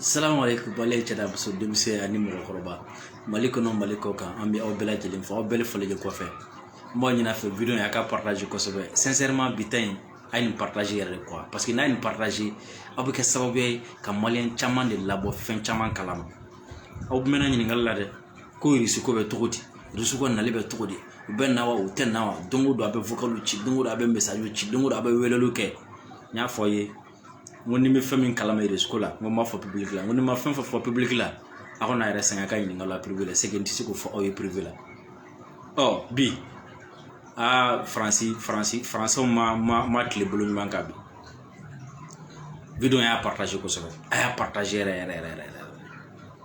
salamu aleykum baden cɛ ani muso denmisɛn ani mɔgɔkɔrɔba mali kɔnɔ mali kɔkan an bɛ aw bɛɛ lajɛlen fo aw bɛɛ lajɛlen folen kɔfɛ n b'a ɲin'aw fɛ video in a k'a partage kosɛbɛ sincèrement bi ta in a ye nin partage yɛrɛ de quoi parce que n'a ye nin partage aw bɛ kɛ sababu ye ka maliyɛn caman de labɔ fɛn caman kalama aw mɛnna ɲininkali la dɛ ko risiko bɛ cogo di risiw ka nali bɛ cogo di u bɛ na wa u tɛ na wa don o don a bɛ vocaliw ci don o don a bɛ message ci don o don a bɛ weleliw kɛ n y'a fɔ aw ye n ko ni n bɛ fɛn min kalama irisiko la n ko n b'a fɔ pibiliki la n ko ni n ma fɛn o fɛn fɔ pibiliki la aw kan'aw yɛrɛ sɛgɛn ka n ɲininka a la privé la parce que n tɛ se k'o fɔ aw ye privé la ɔ bi aa faransi faransi faransɛw ma ma ma tile bolo ɲuman kan bi video in a y'a paritaze kosɛbɛ a y'a paritaze yɛrɛ yɛrɛ yɛrɛ yɛrɛ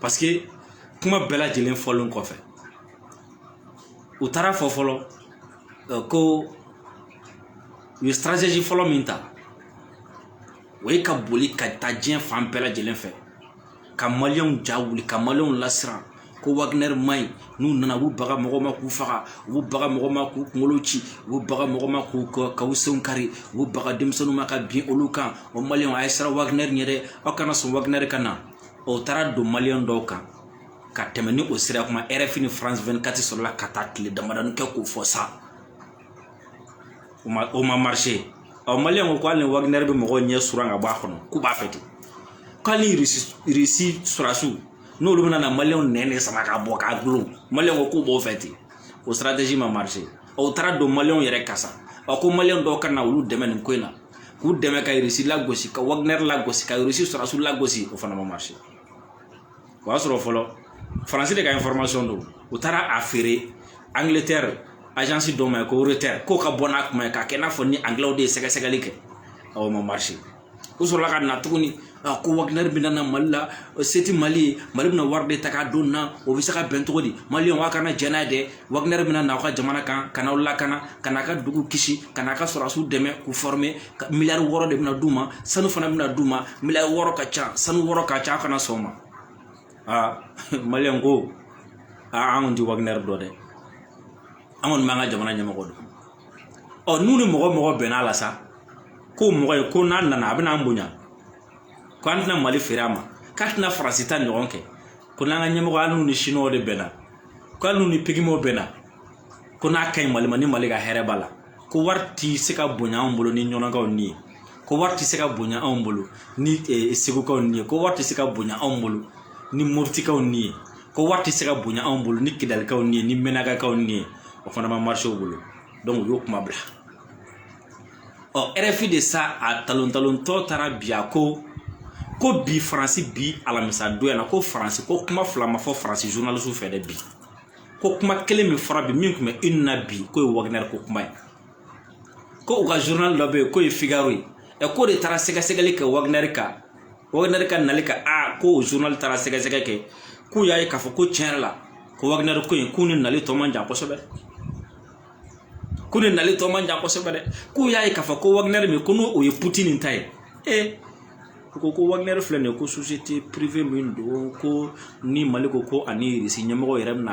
parce que kuma bɛɛ lajɛlen fɔlen kɔfɛ u taara fɔ fɔlɔ euh, ko u ye stratégie fɔlɔ min ta o ye ka boli ka taa diɲɛ fan bɛɛ lajɛlen fɛ ka maliyɛnw ja wuli ka maliyɛnw lasiran ko wagner man ɲi n'u nana u b'u baga mɔgɔ ma k'u faga u b'u baga mɔgɔ ma k'u kunkolo ci u b'u baga mɔgɔ ma k'u k'u senw kari u b'u baga denmisɛnninw ma ka bin olu kan o maliyɛnw a ye siran wagner ɲɛ dɛ aw kana sɔn wagner ka na u taara don maliyɛn dɔw kan ka tɛmɛ ni o siran kuma rfi ni france 24 sɔrɔla ka taa tile damadani kɛ k'o fɔ sa o ma marché ɔ maliyɛn ko ko hali ni wagner bɛ mɔgɔw ɲɛ suran ka bɔ a kɔnɔ k'u b'a fɛ ten ko hali risi sɔrɔdasiw n'olu bɛna na maliyɛnw nɛn de sama ka bɔ k'a dulon maliyɛn ko k'u b'o fɛ ten o stratégie ma marché u taara don maliyɛnw yɛrɛ kan sa ɔ ko maliyɛn dɔw ka na olu dɛmɛ nin ko in na k'u dɛmɛ ka irisi lagosi ka waginɛri lagosi ka irisi sɔrɔdasiw lagosi o fana ma marché o y'a sɔrɔ fɔlɔ faransi de ka information don u taara a feere angletɛri agence dɔ ma ye ko reuters k'o ka bɔ n'a kuma ye k'a kɛ i n'a fɔ ni anglɛw de ye sɛgɛsɛgɛli kɛ aa o ma marché u sɔrɔla ka na tuguni a ko wagner bɛ na mali la se tɛ mali ye mali bɛna wari de ta k'a d'u ma o bɛ se ka bɛn cogo di maliyɛnw aw kana jɛn n'a ye dɛ wagner bɛna na aw ka jamana kan ka n'aw lakana ka n'a ka dugu kisi ka n'a ka sɔrɔdasiw dɛmɛ k'u fɔrɔme miliyari wɔɔrɔ de bɛna d'u ma sanu fana bɛna d'u ma miliyari wɔɔrɔ ka ca sanu wɔɔrɔ ka ca a kana sɔn o ma aa maliyɛn ko aa an kɔni tɛ wagner dɔn dɛ an kɔni b'an ka jamana ɲɛmɔgɔ dɔn ɔ n'u ni mɔgɔ o mɔgɔ bɛnna a la sa k'o mɔgɔ ye ko n'a nana a bɛna an bonya ko an tɛna mali feere a ma k'a tɛna faransi ta ɲɔgɔn kɛ ko n'an ka ɲɛmɔgɔ hali n'u ni siniwaw de bɛnna ko hali n'u ni pigimew bɛnna ko n'a ka ɲi mali ma ni mali ka hɛrɛ b'a la ko wari tɛ se ka bonya anw bolo ni ɲɔnɔnkaw ni ye ko wari tɛ se ka bonya anw bolo ni segukaw ni ye ko wari tɛ se ka bonya anw bolo ni mɔtikaw ni ye ko wari tɛ se ka bonya anw bolo ni kidalikaw ni ye ni mɛnakakaw ni ye o fana ma marise u bolo u y'o kuma bila ɔ rfi de sa a talon talontɔ taara bi a ko ko bi faransi bi alamisa don yan na ko faransi ko kuma fila ma fɔ faransi journalisiw fɛ dɛ bi ko kuma kelen min fɔra bi min tun bɛ une na bi k'o ye wagner ko kuma ye ko u ka journal dɔ bɛ yen k'o ye figaro ye ɛ k'o de taara sɛgɛsɛgɛli kɛ wagner kan wagnɛri ka nali kan a ko o journal taara sɛgɛsɛgɛ kɛ k'u y'a ye k'a fɔ ko tiɲɛ yɛrɛ la ko wagnɛri ko in k'u ni nali tɔ man jan kosɛbɛ k'u ni nali tɔ man jan kosɛbɛ dɛ k'u y'a ye k'a fɔ ko wagnɛri min ko n'o o ye putini ta ye e ko ko wagnɛri filɛ nin ye ko société privée min don ko ni mali ko ko ani irisi ɲɛmɔgɔ yɛrɛ bɛna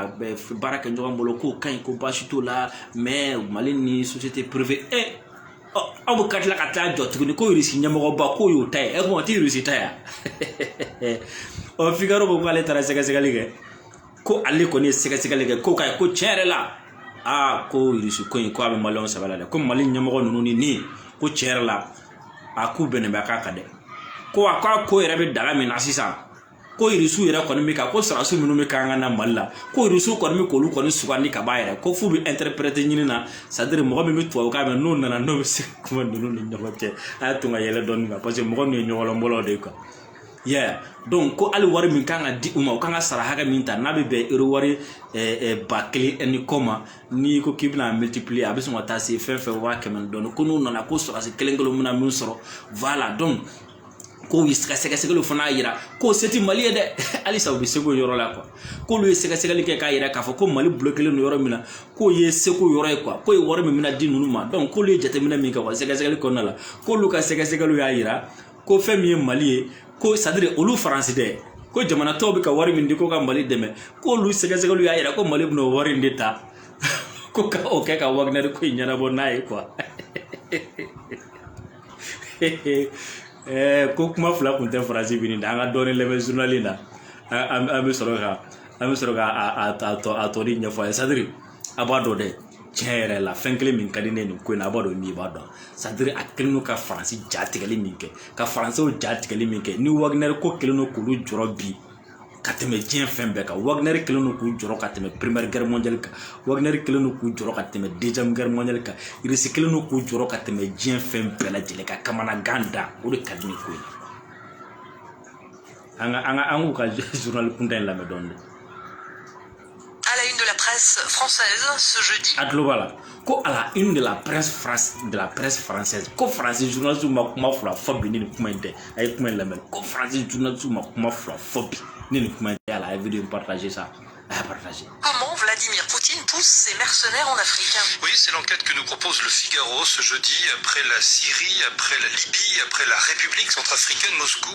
baara kɛ ɲɔgɔn bolo k'o ka ɲi ko baasi t'o la mais mali ni société privée e aw bɛ ka tila ka taa jɔ tuguni ko irisi ɲɛmɔgɔba k'o y'o ta ye ɛ kuma o tɛ irisi ta ye ɔ figaro ko k'ale taara sɛgɛsɛgɛli kɛ ko ale kɔni ye sɛgɛsɛgɛli kɛ ko k'a ye ko tiɲɛ yɛrɛ la aa ko irisi ko in ko a bɛ maliyɛnw sɛbɛ la dɛ ko mali ɲɛmɔgɔ ninnu ni nin ko tiɲɛ yɛrɛ la a k'u bɛnnen bɛ a ko kan dɛ ko a k'a ko yɛrɛ bɛ da min na sisan ko irisiw yɛrɛ kɔni bɛ ka ko sɔrɔdasiw minnu bɛ ka na mali la ko irisiw kɔni bɛ k'olu kɔni sugandi ka ban yɛrɛ ko f'u bɛ ɛnterɛpɛrɛte ɲini na sadiri mɔgɔ min bɛ tubabukan mɛn n'o nana n'o bɛ se kuma ninnu ni ɲɔgɔn cɛ a y'a to ka yɛlɛ dɔɔni kan parce que mɔgɔ ninnu ye ɲɔgɔlɔnbɔlaw de ye kuwa yeah donc ko hali wari min kan ka di u ma u kan ka sara hakɛ min ta n'a bɛ bɛn euro wari ba kelen ni kɔ ma n'i ko k'i bɛna multiplier a bɛ sɔn ka taa se fɛn fɛn waa kɛmɛ ni dɔɔni ko n'u nana ko sɔrɔdasi kelen kelen bɛna min sɔrɔ voilà donc k'o ka sɛgɛsɛgɛliw fana y'a yira k'o se tɛ mali ye dɛ halisa u bɛ seko yɔrɔ la kuwa k'olu ye sɛgɛsɛgɛli kɛ k'a yira k'a fɔ ko mali bolo kɛlen don yɔrɔ min na k'o ye seko yɔrɔ ye kuwa k'o ye wari min bɛna di ninnu ma dɔnku k'olu ye jateminɛ min kɛ wa sɛgɛsɛgɛli kɔnɔna la k'olu ka sɛgɛsɛgɛliw y'a yira ko fɛn min ye mali ye ko sadiri olu faransi dɛ ko jamana tɔw bɛ ka wari min di ko ka mali dɛmɛ k'olu sɛgɛsɛgɛliw y'a yira ko mali bɛna o wari in de ta ko ka o kɛ ka waginɛri ko in ɲɛnabɔ n'a ye kuwa ko kuma fila kun tɛ faransi bi dɛ an ka dɔɔnin lamɛn zurunali la an bɛ sɔrɔ ka an bɛ sɔrɔ ka a tɔ a tɔli ɲɛfɔ aw ye sadiri a b'a dɔn dɛ tiɲɛ yɛrɛ la fɛn kelen min ka di ne ye nin ko in na a b'a dɔn min b'a dɔn sadiri a kɛlen don ka faransi ja tigɛli min kɛ ka faransiw ja tigɛli min kɛ ni waginɛri ko kɛlen don k'olu jɔrɔ bi ka tɛmɛ diɲɛ fɛn bɛɛ kan wagnɛri kɛlen don k'u jɔrɔ ka tɛmɛ première guerre mondiale kan wagnɛri kɛlen don k'u jɔrɔ ka tɛmɛ deuxième guerre mondiale kan irisi kɛlen don k'u jɔrɔ ka tɛmɛ diɲɛ fɛn bɛɛ lajɛlen k'u kamanagan da o de ka di ne ye ko an ka an ka an k'u ka zurunali kuntan in lamɛn dɔɔnin À la une de la presse française ce jeudi. A tulo b'a la ko a la une de la presse France de la presse française ko France journaliste ma kuma fila fɔ bi ni nin kuma in tɛ a ye kuma in lamɛn ko France journaliste ma kuma fila fɔ bi ni nin kuma in tɛ a la a ye video in partager sa a y'a partager. Comment Vladimir Poutine pousse ses mercenaires en Afrique. Oui, c'est l'enquête que nous propose le Figaro ce jeudi après la Syrie, après la Libye, après la République centrafricaine Moscou.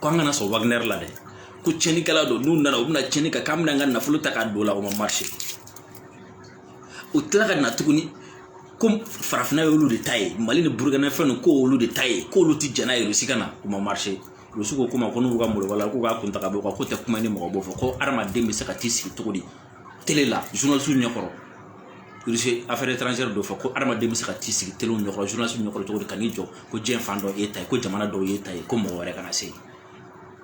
ko an kana sɔn wagner la dɛ ko cɛnikɛla don n'u nana u bɛna cɛni kɛ k'an bɛna an ka nafolo ta k'a don la o ma marché u tila ka na tuguni ko farafinna y'olu de ta ye mali ni burukina fɛn ninnu ko olu de ta ye k'olu tɛ jɛn n'a ye rusi ka na o ma marché rusi ko ko ma ko n'u ka mɔlɔba la k'u ka kuntaga bɔ u ka ko tɛ kuma ni mɔgɔ b'o fɔ ko hadamaden bɛ se ka t'i sigi cogo di tele la journaliste ɲɛkɔrɔ Russie affaire étrangère d'o fɔ ko adamaden bɛ se ka t'i sigi telew ɲɛkɔrɔ journaliste ɲɛkɔrɔ cogo di ka n'i jɔ ko diɲɛ fan dɔ y'e ta ye ko jamana dɔw y'e ta ye ko mɔgɔ wɛrɛ kana se yen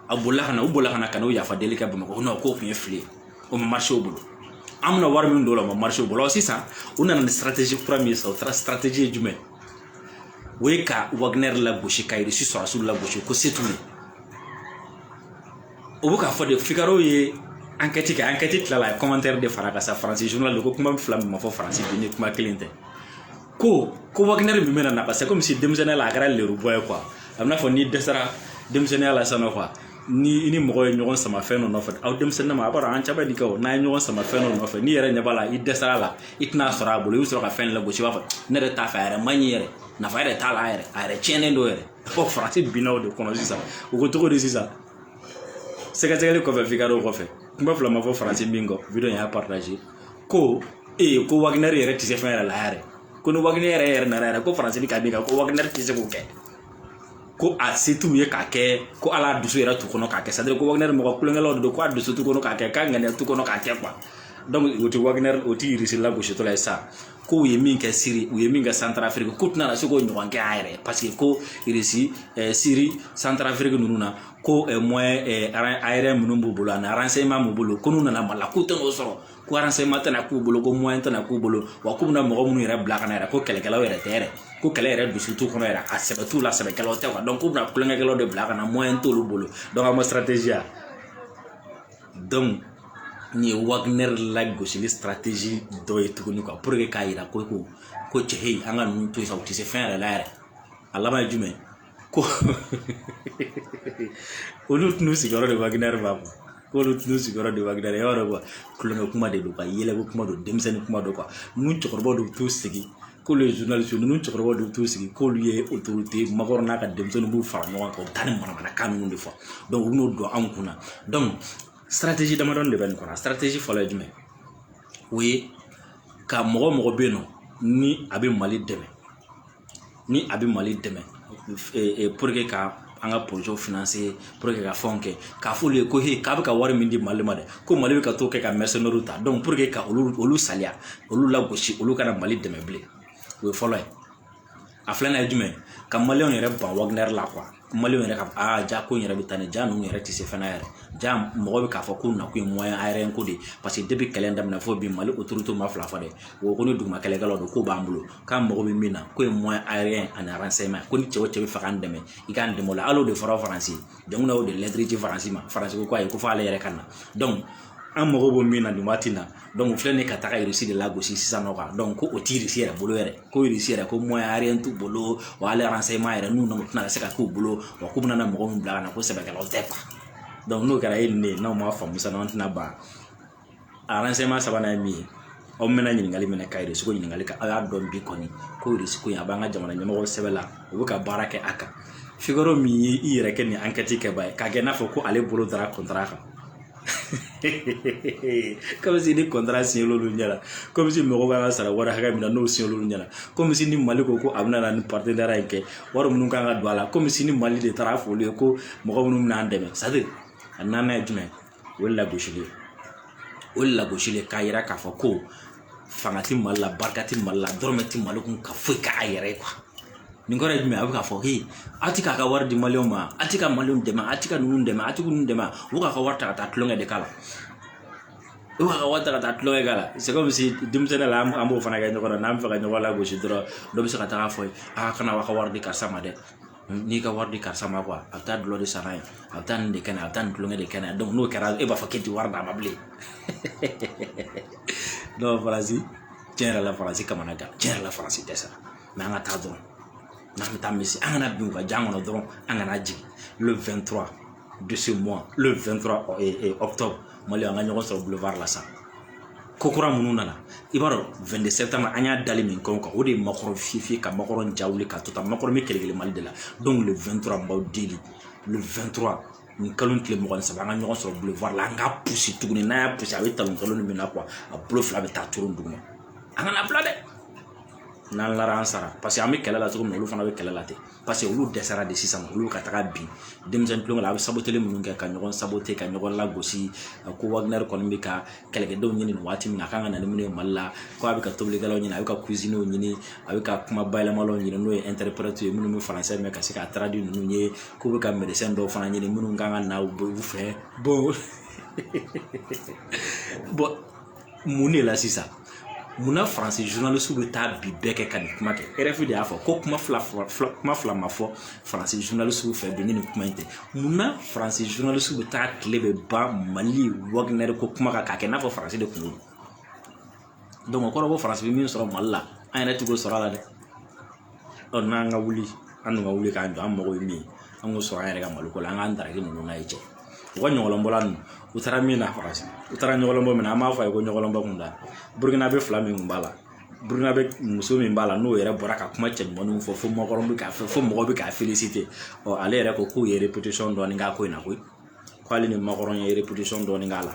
a bolila ka na u bolila ka na ka n'o yafa deli kɛ bamakɔ kɔnɔ k'o tun ye fili ye o ma marché u bolo an bɛna wari min don o la o ma marché u bolo sisan u nana ni stratégie kura min ye sisan o taara stratégie ye jumɛn o ye ka wagner lagosi ka irisi sɔrɔdasiw lagosi ko se t'u ye o bɛ k'a fɔ de fikaro ye ankɛti kɛ ankɛti tilala a ye kɔmantɛri de fara a kan sa faransi zurunali de ko kuma fila min ma fɔ faransi bi ni kuma kelen tɛ ko ko wakinɛri min bɛna na parce que komi si denmisɛnninya la a kɛra lerubɔ ye kuwa a bɛna fɔ n'i dɛsɛra denmisɛnninya la sanɔ kuwa ni i ni mɔgɔ ye ɲɔgɔn sama fɛn dɔ nɔfɛ an denmisɛnninma a b'a dɔn an caman ye nin kɛ o n'a ye ɲɔgɔn sama fɛn dɔ nɔfɛ n'i yɛrɛ ɲɛ b'a la i dɛsɛra la i tɛn'a sɔrɔ a bolo i bɛ sɔrɔ ka fɛn lagosi i b'a fɔ ne yɛrɛ t'a fɛ a yɛrɛ man ɲi yɛrɛ nafa yɛrɛ t'a la a yɛrɛ a yɛrɛ tiɲɛnen don yɛrɛ fɔ faransi binna o de kɔnɔ sisan u ko cogo di sisan sɛgɛsɛgɛli kɔfɛ fikaro kɔfɛ kuma fila ma fɔ faransi bi n ko video a y'a paritaze ko ee ko waginɛri yɛrɛ tɛ se fɛn yɛrɛ la yɛrɛ ko ni waginɛri yɛrɛ nana yɛrɛ ko faransi bɛ ka min kan ko waginɛri tɛ se k'o kɛ ko a se t'u ye k'a kɛ ko hali a dusu yɛrɛ t'u kɔnɔ k'a kɛ sadiri ko waginɛri mɔgɔ tulonkɛlaw de don ko a dusu t'u kɔnɔ k'a kɛ k'a ŋaniya t'u kɔnɔ k'a kɛ kuwa donc o tɛ waginɛri o tɛ irisi lagositɔla ye sa ko u ye min kɛ siri u ye min kɛ santarafiriki k'u tɛna se k'o ɲɔgɔn kɛ an yɛrɛ ye paseke ko irisi eh, siri santarafiriki ninnu na ko eh, moyen eh, aérien minnu b'u bolo ani renseignement b'u bolo ko n'u nana mali la k'u tɛna o sɔrɔ ko renseignement tɛna k'u bolo ko moyen tɛna k'u bolo wa k'u bɛna mɔgɔ minnu yɛrɛ bila ka na yɛrɛ ko kɛlɛkɛlaw yɛrɛ tɛ yɛrɛ ko kɛlɛ yɛrɛ dusu t'u kɔnɔ yɛrɛ a sɛbɛ t'u la sɛbɛkɛlaw tɛ kuwa dɔnku k'u bɛna tulonkɛlaw de bila ka na moyen t'olu bolo dɔnku an ma stratégie ya dɔnku nin ye wagner lagosili stratégie dɔ ye tuguni pour que k'a jira ko ko ko cɛ an ka ninnu to sa u tɛ se fɛn yɛrɛ la yɛrɛ a laban ye jumɛn ko olu tun sigiyɔrɔ de wagner b'a bɔ k'olu tun sigiyɔrɔ de wagner e yɔrɔ dɔn kuwa tulonkɛ kuma de don ka yɛlɛko kuma don denmisɛnnin kuma don kuwa ninnu cɛkɔrɔbaw de bɛ t'u sigi k'olu ye journaliste ninnu cɛkɔrɔba de t'u sigi k'olu ye autorité macron n'a ka denmisɛnnin b'u fara ɲɔgɔn kan u bɛ taa ni manamanakan ninnu de fɔ u bɛ n'o don anw kunna stratégie damadɔ de bɛ nin kɔnɔ stratégie fɔlɔ ye jumɛn o ye ka mɔgɔ o mɔgɔ bɛ yen nɔ ni a bɛ mali dɛmɛ ni a bɛ mali dɛmɛ ka an ka projet financé pour que ka fɛnw kɛ k'a f'olu ye ko he k'a bɛ ka wari min di mali ma dɛ ko mali bɛ ka t'o kɛ ka mɛsɛnɛriw ta donc pour que ka olu olu saliya olu lagosi olu kana mali dɛmɛ bilen o ye fɔlɔ ye a filanan ye jumɛn ka maliyɛnw yɛrɛ ban wagner la quoi maliyɛnw yɛrɛ ka aa jaa ko in yɛrɛ bɛ taa ni jaa ninnu yɛrɛ tɛ se fɛn na yɛrɛ jaa mɔgɔ bɛ k'a fɔ ko nakun ye moyen aérien ko de ye parce que depuis kɛlɛ in daminɛ fo bi mali autorité ma fila fɔ dɛ o ko ni duguma kɛlɛkɛlaw don k'o b'an bolo k'an mago bɛ min na k'o ye moyen aérien ani renseignement ko ni cɛ o cɛ b'a fɛ k'an dɛmɛ i k'an dɛmɛ o la hali de fɔra faransi dɛmɛ o de ladi ci faransi ma faransi ko ayi ko f'ale yɛrɛ ka na an mago bɛ min na nin waati na filɛ nin ka taga irisi de lagosi sisan nɔ kan ko o t'i yɛrɛ bolo yɛrɛ ko irisi yɛrɛ ko moyen aérien t'u bolo wa hali renseignement yɛrɛ n'u nana tɛna se ka k'u bolo wa k'u bɛna mɔgɔ min bila ka na ko sɛbɛkɛlaw tɛ n'o kɛra e ni ne ye n'an ma faamuya an tɛna ban a sabanan ye min ye u bɛna ɲininkali minɛ ka irisi ko ɲininkali kɛ a y'a dɔn bi kɔni ko ko a b'an ka jamana ɲɛmɔgɔ sɛbɛ la u bɛ ka baara kɛ a kan fikɔrɔ min ye i yɛrɛ kɛ nin enquête kɛbaa ye k'a kɛ n'a fɔ ko ale bolo dara contrat kan comme si nin contrat siɲɛ olu ɲɛna comme si mɔgɔw bɛ ka sara wari hakɛ min na n'o siɲɛ olu ɲɛna comme si ni mali ko ko a bɛna na ni paridara in kɛ wari minnu ka kan ka don a la comme si ni mali de taara a f'olu ye ko mɔgɔ minnu bɛna an dɛmɛ c'est-à-dire a naaninan ye jumɛn o ye lagosi ye o ye lagosi de ye k'a yira k'a fɔ ko fanga ti mali la barika tɛ mali la dɔrɔmɛ ti mali kun ka foyi k'a yɛrɛ ye nin kɔrɔ ye jumɛn a bɛ k'a fɔ he a ti k'a ka wari di maliw ma a ti ka maliw dɛmɛ a ti ka ninnu dɛmɛ a ti ninnu dɛmɛ u k'a ka wari ta ka taa tulonkɛ de k'a la e b'a ka wari ta ka taa tulonkɛ k'a la sɛgɛ bɛ se denmisɛnnin la an b'o fana kɛ ɲɔgɔn na n'an bɛ fɛ ka ɲɔgɔn lagosi dɔrɔn dɔ bɛ se ka taga fɔ aw kana aw ka wari di karisa ma dɛ n'i ka wari di karisa ma quoi a bɛ taa dɔlɔ de san n'a ye a bɛ taa nin de kɛ n'a ye a bɛ taa nin tulonkɛ de kɛ n'a ye n'o kɛra e b'a fɔ k'i tɛ wari d'a ma bilen faransi tiɲɛ yɛrɛ la faransi kamanaganna tiɲɛ yɛrɛ la faransi dɛsɛra mais an ka taa dɔrɔn n'an bɛ taa min si an kana bin u ka jan kɔnɔ dɔrɔn an kana jigin n'o ye justement le 23 octobre mali an ka ɲɔgɔn sɔrɔ boulevard la sa ko kura minnu nana i b'a dɔn 22 septembre an y'a dali min kun kan o de ye macron fiyefiye ka macron ja wuli ka to tan macron bɛ kɛlɛkɛlɛ mali de la donc le 23 n b'aw deli le 23 nin kalo tile mugan ni saba an ka ɲɔgɔn sɔrɔ boulevard la an k'a pusi tuguni n'a y'a pusi a bɛ talon kalo ni min na quoi a bolo fila bɛ taa turu duguma an kan'a bila dɛ n'an lara an sara parce que an bɛ kɛlɛ la cogo min na olu fana bɛ kɛlɛ la ten paseke olu dɛsɛra de sisan olu ka taga bin denmisɛnnin tulonkɛ la a bɛ sabali minnu kɛ ka ɲɔgɔn sabote ka ɲɔgɔn lagosi ko wagner bɛ ka kɛlɛkɛdenw ɲini nin waati min na a kan ka na ni minnu ye mali la ko a bɛ ka tobilikɛlaw ɲini a bɛ ka kuzinyew ɲini a bɛ ka kuma bayɛlɛmaw ɲini n'o ye ɛntɛripɛrɛti ye minnu bɛ faransɛ mɛn ka se ka taradi ninnu ye k'u bɛ ka mɛdɛsɛn dɔw fana ɲini minnu kan ka na u fɛ bon bon mun de la sisan munna faransi journaliste bɛ taa bi bɛɛ kɛ ka nin kuma kɛ rfi de y'a fɔ ko kuma fila kuma fila ma fɔ faransi journaliste fɛ bi ni nin kuma in tɛ munna faransi journaliste bɛ taa tile bɛɛ ban mali wagner ko kuma kan k'a kɛ n'a fɔ faransi de kunko don donc o kɔrɔ ko faransi bɛ min sɔrɔ mali la an yɛrɛ tɛ k'o sɔrɔ a la dɛ ɔ n'an ka wuli an dun ka wuli k'an jɔ an mago bɛ min an k'o sɔrɔ an yɛrɛ ka mali ko la an k'an daraki ninnu na ye cɛ u ka ɲɔgɔlɔnbɔla ninnu taara min na faransi u taara ɲɔgɔlɔn bɔ min na an b'a fɔ a ye ko ɲɔgɔlɔn bɔ kun don burukinabe fila min kun b'a la burukinabe muso min b'a la n'o yɛrɛ bɔra ka kuma cɛɲumanw fɔ fo mɔgɔ bɛ k'a fɛ fo mɔgɔ bɛ k'a felisite ale yɛrɛ ko k'u ye dɔɔni k'a ko in na koyi k'ale ni makɔrɔni ye dɔɔni k'a la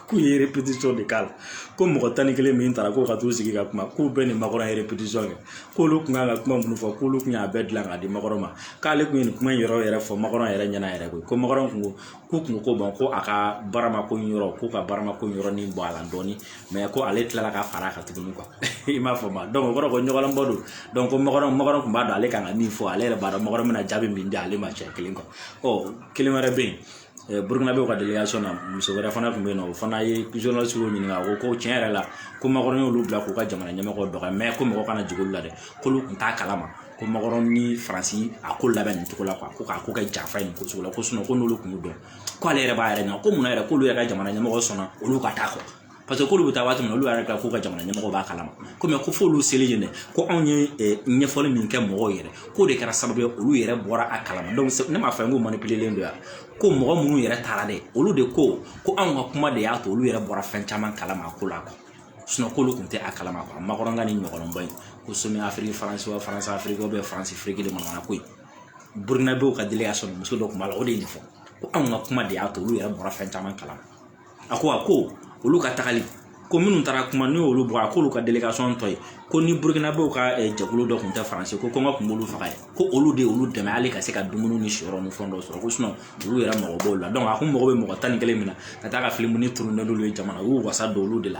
k'u ye de k'a la ko mɔgɔ tan ni kelen min taara ko ka t'u sigi ka kuma k'u bɛɛ ni makɔrɔ ye kɛ k'olu kun kan ka kuma minnu fɔ k'olu kun y'a bɛɛ dilan k'a di makɔrɔ ma k'ale kun ye nin kuma in yɔrɔ yɛrɛ fɔ makɔrɔ yɛrɛ ɲɛna yɛrɛ koyi ko makɔrɔni kun ko k'u kun ko ban ko a ka barama ko yɔrɔ ko ka barama ko yɔrɔ nin bɔ a la dɔɔni mɛ ko ale tilala ka fara a kan tuguni i m'a fɔ ma dɔn o kɔrɔ ko ɲɔgɔlɔn bɔ don ko makɔrɔni tun b'a dɔn ale kan ka min fɔ ale yɛrɛ b'a dɔn makɔrɔni na jaabi min di ale ma cɛ kelen kɔ ɔ kelen wɛrɛ bɛ yen burukinabe ka delegasɔn na muso wɛrɛ fana tun bɛ yen nɔ o fana ye kizɔnsi ɲininka a ko ko tiɲɛ yɛrɛ la ko makɔrɔni y'olu bila k'u ka jamana ɲɛmɔgɔ dɔgɔya mɛ ko mɔgɔ kana jigin olu la dɛ k'olu tun t'a kalama ko makɔrɔni ni faransi y'a ko labɛn nin cogo la ko k'a ko kɛ janfa in ko sugu la ko ko n'olu tun y'o dɔn k'ale yɛrɛ b'a yɛrɛ ɲininka mun yɛrɛ k'olu yɛrɛ ka jamana ɲɛmɔgɔ sɔnna olu ka taa ko paseke k'olu bɛ taa waati min olu yɛrɛ ka f'u ka jamana ɲɛmɔgɔ b'a kalama ko mɛ ko f'olu selen yen de ko anw ye ɲɛfɔli min kɛ mɔgɔw yɛrɛ k'o de kɛra sababu ye olu yɛrɛ bɔra a kalama ne m'a fɔ n ko manipilelen don yan ko mɔgɔ minnu yɛrɛ taara dɛ olu de ko ko anw ka kuma de y'a to olu yɛrɛ bɔra fɛn caman kalama a ko la k'olu tun tɛ a kalama a makɔrɔni ɲɔgɔnyeba in ko sɔmɛ afiriki faransi wa faransi afiriki bɛ faransi feere kelen manamana ko ye burukinabew ka delegasɔn na muso dɔ kun b'a la o de ye nin fɔ ko anw ka kuma de y'a to olu yɛrɛ bɔra fɛn caman kalama a ko a ko olu ka tagali ko minnu taara kuma n'u y'olu bɔ a k'olu ka delegasɔn dɔ ye ko ni burukinabew ka eh, jɛkulu dɔ tun tɛ faransi ko kɔngɔ tun b'olu faga yen ko olu de y'olu dɛmɛ hali ka se ka dumuni ni siyɔrɔ ni fɛn dɔw sɔrɔ ko sinɔn olu yɛrɛ mago b'o la dɔnku a ko makɔrɔni bɛ mɔgɔ tan ni kelen minɛ ka taa ka filimu nin turune n'olu ye jamanaw y'u wasa don olu de la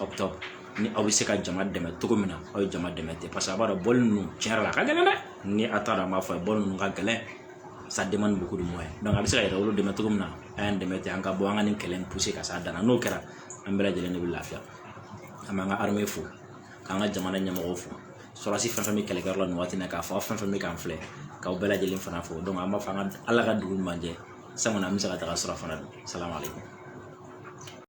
aw bɛ taa ni aw bɛ se ka jama dɛmɛ cogo min na aw ye jama dɛmɛ ten paseke a b'a dɔn bɔli ninnu tiɲɛ yɛrɛ la a ka gɛlɛn dɛ ni a taara an b'a fɔ a ye bɔli ninnu ka gɛlɛn sa dɛmɛ ni bugun mɔ ye a bɛ se ka yɛrɛ wolo dɛmɛ cogo min na a y'an dɛmɛ ten an ka bɔ an ka nin kɛlɛ in puse ka s'a dan na n'o kɛra an bɛɛ lajɛlen de bɛ lafiya an b'an ka armée fo k'an ka jamana ɲɛmɔgɔw fo sɔrɔdasi fɛn fɛn bɛ kɛlɛkɛyɔrɔ la nin waati in na k'a fɔ aw fɛn fɛn bɛ k'an filɛ k'aw bɛɛ lajɛlen fana fo donc an b'a fɔ an ka ala ka dugu ɲuman jɛ san kɔni an bɛ se ka taga sɔrɔ fana don salamalekun